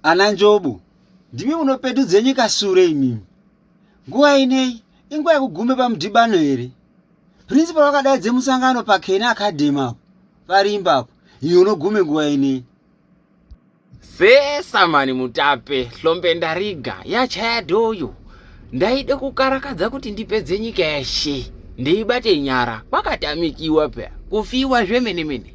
ana njobo ndimi munopetudze nyika sure imimi nguva inei inguva yekugume pamudhibano here principal vakadaidze musangano pakena academy apo parimba apo iyo unogume nguva inei sesa mani mutape hlombe ndariga yachaya doyo ndaide kukarakadza kuti ndipedze nyika yeshe ndeibate nyara kwakatamikiwa pya kufiwa zvemene mene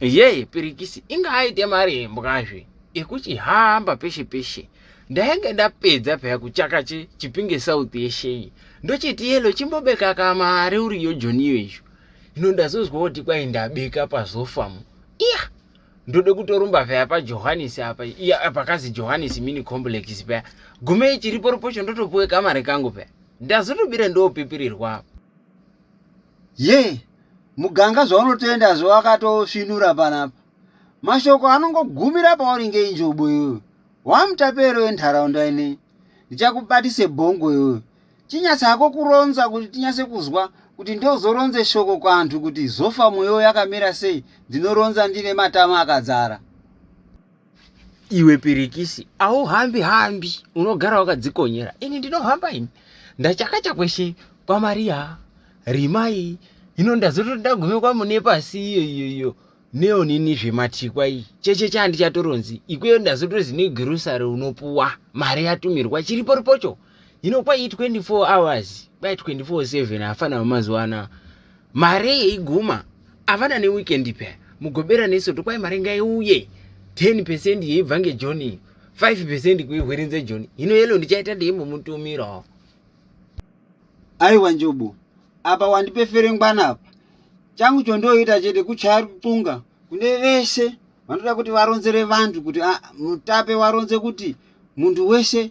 yee pirikisi inga aite mari embwazve ekuchihamba peshe peshe ndainge ndapedza peya kuchaka che chipinge south yeshe iyi ndochiti yelo chimbobeka kamari uriyo joniyo izvo hino ndazozwa kuti kwai ndabeka pazofamu iya ndode kutorumba peya pajohannes apa iya pakazi johannes mini complex peya gume ichiripo ripocho ndotopuwe kamari kangu peya ndazotobira ndopipirirwa apa yee yeah. muganga zvaunotenda zvawakatosvinura panapa mashoko anongogumira pauri ngeinjobo iyoyo wamutapero wenharaunda inei ndichakubatise bhongo iyoyo chinyatsi hako kuronza kuti tinyatse kuzwa kuti ndozoronze shoko kwantu kuti zofa mweyo yakamira sei ndinoronza ndine matama akadzara iwe pirikisi auhambi hambi unogara wakadzikonyera ini ndinohamba ini ndachakacha kweshe kwamariya rimai hino ndazotoda gume kwamune pasi iyo iyo iyo neonini zvematikwa iyi cheche chandichatoronzi ikweyo ndazotozi negrosary unopuwa mari yatumirwa chiri pori pocho hino kwai 24 hours kwai 24 7 hafana vemazuva anaa mari yeiguma havana neweekend pya mugobera nesoto kwai mari ngaiuye 10 percent yeibva ngejoni iyo 5 percent kuihwerenze joni hino yelo ndichaita ndeimbomutumirawo Aiwa Njobo, apa wandipefere ngwana apa. Changu chondoita chete kuchaya ruxunga kune vese vanoda kuti varonzere vantu kuti ah, mutape waronze kuti munhu wese